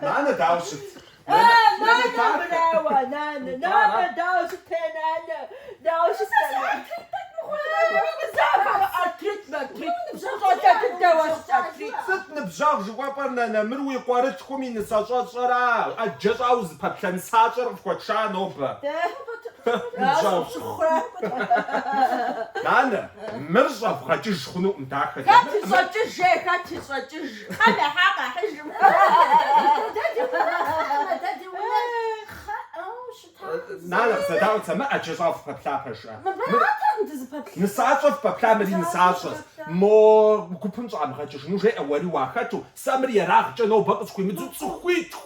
Нанэ дауэ щыт? Нанэ дауэ? Нанэ дауэ щыт? Нанэ дауэ щыт? Сыт ныбжьэгъу жыхуэпӏэр нанэ? Мыр уи къуэрылъхум и нысащӏэщӏэра? ӏэджэ щӏауэ узыпэплъэ нысащӏэр къыфхуэтша нобэ? Нанэ, мыр щӏэвгъэкӏыж хъунукъым, дахэ дэмыӏмэ. Хэт ищӏэкӏыж, жей, хэт ищӏэкӏыж, Тхьэм ехьа къэхьыжым. Нанэ, къызэдаӏуэ сэ, мы ӏэджэ щӏауэ фыпэплъа пэжкъэ? Мыбыратэкъым дызыпэплъар. Нысащӏэ фыпэплъа, мыри нысащӏэщ. Мо гупым щӏамыгъэкӏыжыну жеӏэ, уэри уахэту, сэ мыр ерагъкӏэ нобэ къысхуимыдзу цӏыхуитху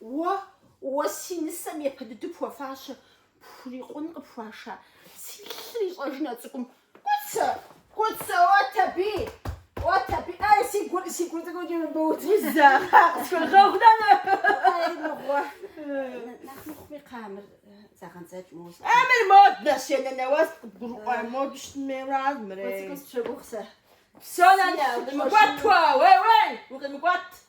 Уэ, уэ си нысэм епэ дыдэу пхуэфащэ, пхурикъун къыпхуаша, си лъыр ищӏэжын а цӏыкӏум. Кӏуцэ, кӏуцэ, уэт аби, уэт аби, ай, си гур, си гур цӏыкӏуэкӏи мыбоудзэ. Къытхуэгъэгъу, нанэ. Ай, мыгъуэ. Нэхъ мыхъуми къамыр зэгъэдзэкӏ мощӏ. А мыр мод нэс, е нанэ уэ сыт къыбгурыӏуа моду щытын хуейрэ ар мырей. Кӏуцэ къысщыгугъ сэ. Псо, нанэ, укъимыкӏуэт уэ, уей, уей, укъимыкӏуэт.